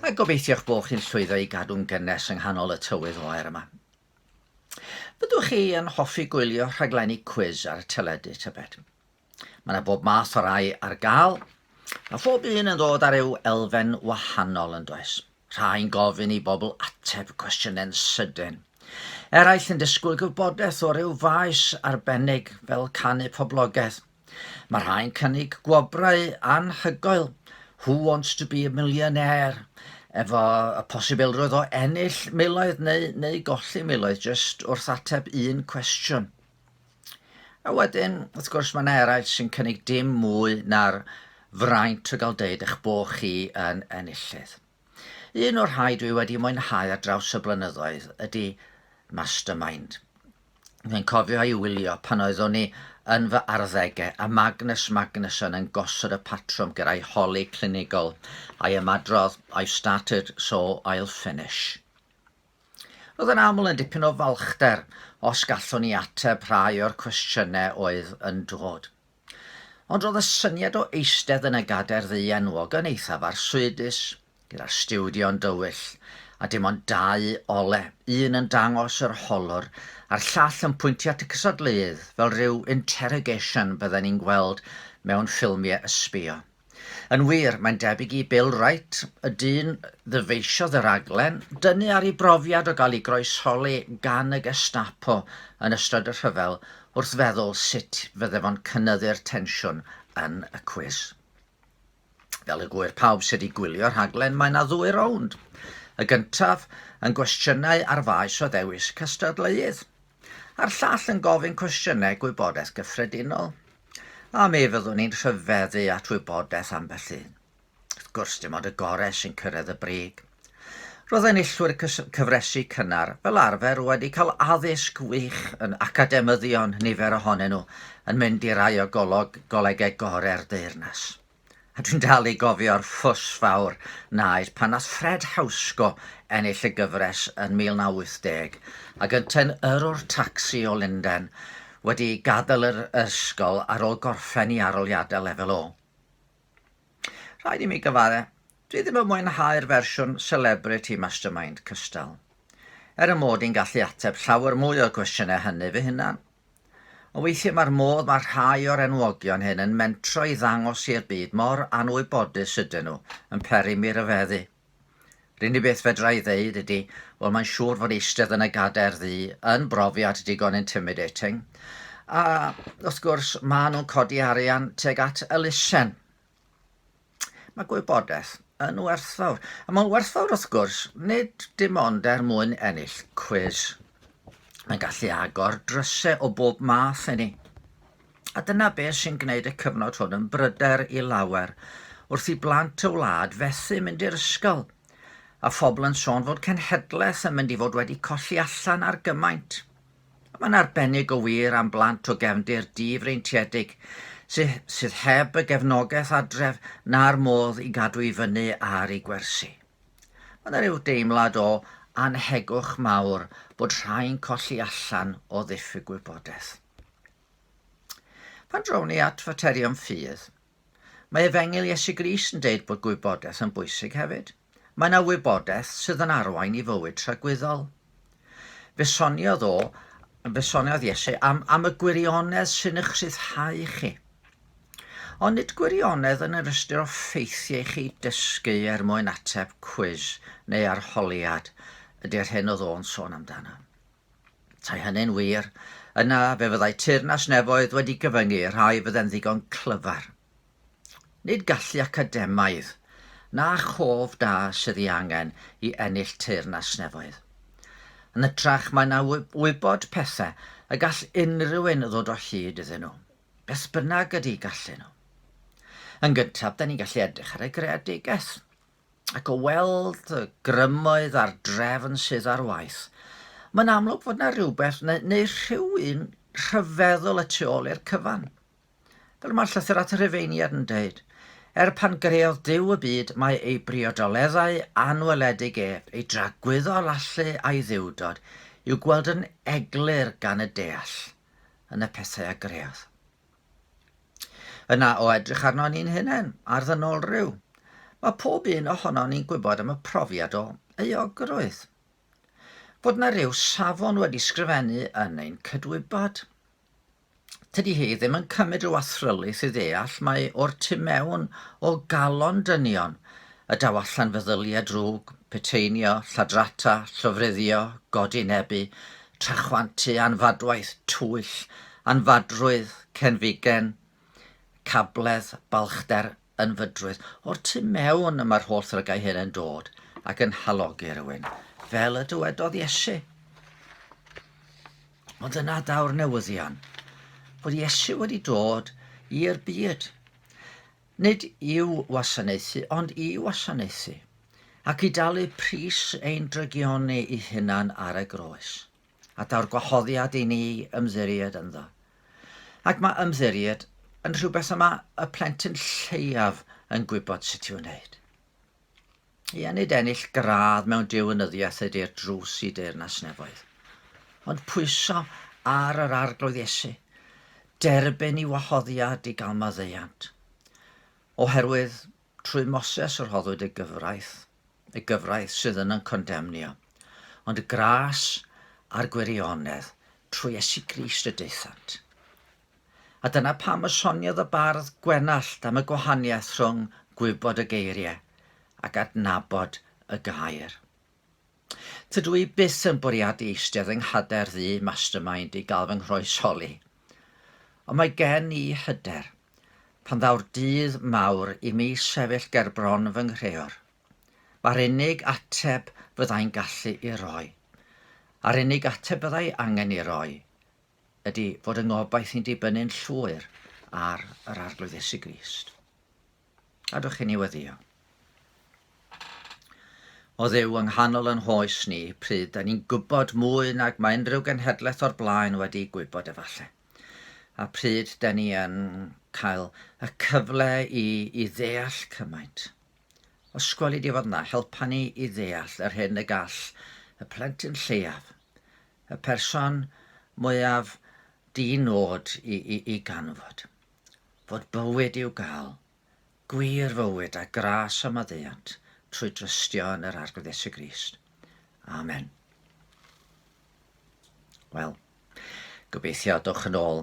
A gobeithio'ch bod chi'n llwyddo i gadw'n gynnes yng nghanol y tywydd oer yma. Byddwch chi yn hoffi gwylio rhaglenni cwis ar y teledu, tybed? Mae yna bob math o rai ar gael, a phob un yn dod ar eu elfen wahanol yn does? Rhai'n gofyn i bobl ateb cwestiynau'n sydyn. Eraill yn disgwyl gwybodaeth o ryw faes arbennig fel canu poblogaidd Mae rhai'n cynnig gwobrau anhygoel, Who Wants to be a Millionaire, efo y posibilrwydd o ennill miloedd neu, neu golli miloedd jyst wrth ateb un cwestiwn. A wedyn, wrth gwrs, mae yna eraill sy'n cynnig dim mwy na'r fraint o gael deud eich bod chi yn enillydd. Un o'r rhai dwi wedi mwynhau ar draws y blynyddoedd ydi Mastermind. Dwi'n cofio ei wylio pan oeddwn i yn fy arddege a Magnus Magnusson yn gosod y patrwm ger ei holi clinigol a'i ymadrodd I've started so I'll finish. Roedd yn aml yn dipyn o falchder os gallwn i ateb rhai o'r cwestiynau oedd yn dod. Ond roedd y syniad o eistedd yn y gadair ddu enwog yn eithaf arswydus, gyda'r stiwdio'n dywyll, a dim ond dau ole, un yn dangos yr holwr, a'r llall yn pwyntio at y cystadleuydd, fel rhyw interrogation bydden ni'n gweld mewn ffilmiau ysbïo. Yn wir, mae'n debyg i Bill Wright, y dyn ddyfeisiodd y rhaglen, dynnu ar ei brofiad o gael ei groesholi gan y Gestapo yn ystod y rhyfel wrth feddwl sut fydde fo'n cynyddu'r tensiwn yn y cwis. Fel y gŵyr pawb sydd wedi gwylio'r rhaglen, mae yna ddwy rownd. Y gyntaf yn gwestiynau ar faes o ddewis cystadleuydd, a'r llall yn gofyn cwestiynau gwybodaeth gyffredinol. A mi fyddwn ni'n rhyfeddu at wybodaeth ambell un. Wrth gwrs, dim ond y gorau sy'n cyrraedd y brig. Roedd enillwyr cyfresi cynnar fel arfer wedi cael addysg wych yn academyddion, nifer ohonyn nhw yn mynd i rai o golog, golegau gorau'r deyrnas. A dwi'n dal i gofio'r ffws fawr naeth pan nath Fred Hauschko ennill y gyfres yn 1980, ac yntau'n yrrwr tacsi o Lundain, wedi gadael yr ysgol ar ôl gorffen i aroliadau lefel O. Rhaid i mi gyfadde, dwi ddim yn mwynhau'r fersiwn Celebrity Mastermind cystal. Er 'y mod i'n gallu ateb llawer mwy o'r cwestiynau hynny fy hunan, Ond weithiau mae'r modd mae rhai o'r enwogion hyn yn mentro i ddangos i'r byd mor anwybodus ydyn nhw yn peri mi ryfeddu. Yr unig beth fedra i ddeud ydy, wel mae'n siŵr fod eistedd yn y gadair ddu yn brofiad digon intimidating. A wrth gwrs, maen nhw'n codi arian tuag at elusen. Mae gwybodaeth yn werthfawr, a mae'n werthfawr wrth gwrs nid dim ond er mwyn ennill cwis. Mae'n gallu agor drysau o bob math i ni. A dyna beth sy'n gwneud y cyfnod hwn yn bryder i lawer wrth i blant y wlad fethu mynd i'r ysgol, a phobl yn sôn fod cenhedlaeth yn mynd i fod wedi colli allan ar gymaint. Mae'n arbennig o wir am blant o gefndir di-freintiedig sydd, sydd heb y gefnogaeth adref na'r modd i gadw i fyny ar eu gwersi. Mae yna ryw deimlad o annhegwch mawr bod rhai'n colli allan o ddiffyg gwybodaeth. Pan drawn ni at faterion ffydd, Mae Efengyl Iesu Grist yn deud bod gwybodaeth yn bwysig hefyd. Mae yna wybodaeth sydd yn arwain i fywyd tragwyddol. Fe soniodd o, fe soniodd Iesu am, am y gwirionedd sy'n eich rhyddhau chi. Ond nid gwirionedd yn yr ystyr o ffeithiau i chi dysgu er mwyn ateb cwis neu arholiad ydy'r hyn oedd o'n sôn amdano. Petai hynny'n wir, yna fe fyddai teyrnas nefoedd wedi gyfyngu i'r rhai fydde'n ddigon clyfar. Nid gallu academaidd, na chof da sydd ei angen i ennill teyrnas nefoedd. Yn hytrach, mae yna wybod pethau y gall unrhyw un ddod o hyd iddyn nhw, beth bynnag ydy gallu nhw. Yn gyntaf, da ni'n gallu edrych ar y greadigaeth. ac o weld y grymoedd a'r drefn sydd ar waith, mae'n amlwg fod yna rhywbeth neu, neu rhyw un rhyfeddol y tu ôl i'r cyfan. Fel mae'r llythyr at y Rhufeiniad yn dweud, er pan greodd Duw y byd, mae ei briodoleddau anweledig ef, ei dragwyddol allu a'i dduwdod, i'w gweld yn eglur gan y deall yn y pethau a greodd. Yna o edrych arno ni'n hunain, ar ddynolryw, mae pob un ohonon ni'n gwybod am y profiad o euogrwydd. Fod na ryw safon wedi sgrifennu yn ein cydwybod. Tydi hi ddim yn cymryd rhyw athrylith i ddeall mae o'r tu mewn o galon dynion y daw allan feddylia drwg, peteinio, lladrata, llofruddio, godi nebu, trachwantu, anfadwaith, twyll, anfadrwydd, cenfigen, cabledd, balchder, ynfydrwydd. O'r tu mewn y mae'r holl ddrygau hyn yn dod ac yn halogi rhywun, fel y dywedodd Iesu. Ond yna daw'r newyddion, bod Iesu wedi dod i'r byd. Nid i'w wasanaethu ond i wasanaethu, ac i dalu pris ein drygioni i hunan ar y groes, a daw'r gwahoddiad i ni ymddiried ynddo. Ac mae ymddiried yn rhywbeth y mae y plentyn lleiaf yn gwybod sut i'w wneud. Ia, nid ennill gradd mewn deunyddiaeth ydy'r drws i deyrnas nefoedd, ond pwyso ar yr Arglwydd Iesu, derbyn i wahoddiad i gael maddeuant. Oherwydd trwy Moses rhoddwyd y gyfraith, y gyfraith sydd yn yn condemnio, ond y gras a'r gwirionedd trwy Iesu Grist y daethant. A dyna pam y soniodd y bardd Gwenallt am y gwahaniaeth rhwng gwybod y geiriau ac adnabod y gair. Tydw i byth yn bwriadu eistedd yng nghader ddu mastermind i gael fy nghroesholi. Ond mae gen i hyder, pan ddaw'r dydd mawr i mi sefyll ger bron fy nghreor, mae'r unig ateb fyddai'n gallu i roi, a'r unig ateb byddai angen i roi, ydy fod yng ngobaith i'n dibynnu'n llwyr ar yr Arglwydd Iesu Grist. Gadwch i ni weddio. O ddew yng nghanol yn hoes ni, pryd da ni'n gwybod mwy nag mae unrhyw genhedlaeth o'r blaen wedi gwybod efallai. A pryd da ni yn cael y cyfle i, i ddeall cymaint. Os gweli di fod yna, helpa ni i ddeall yr hyn y gall y plentyn lleiaf y person mwyaf di-nod i, i, i ganfod. Fod bywyd i'w gael, gwir fywyd a gras a maddeuant trwy drystio yn yr Arglwydd Iesu Grist. Amen. Wel, gobeithio dwch yn ôl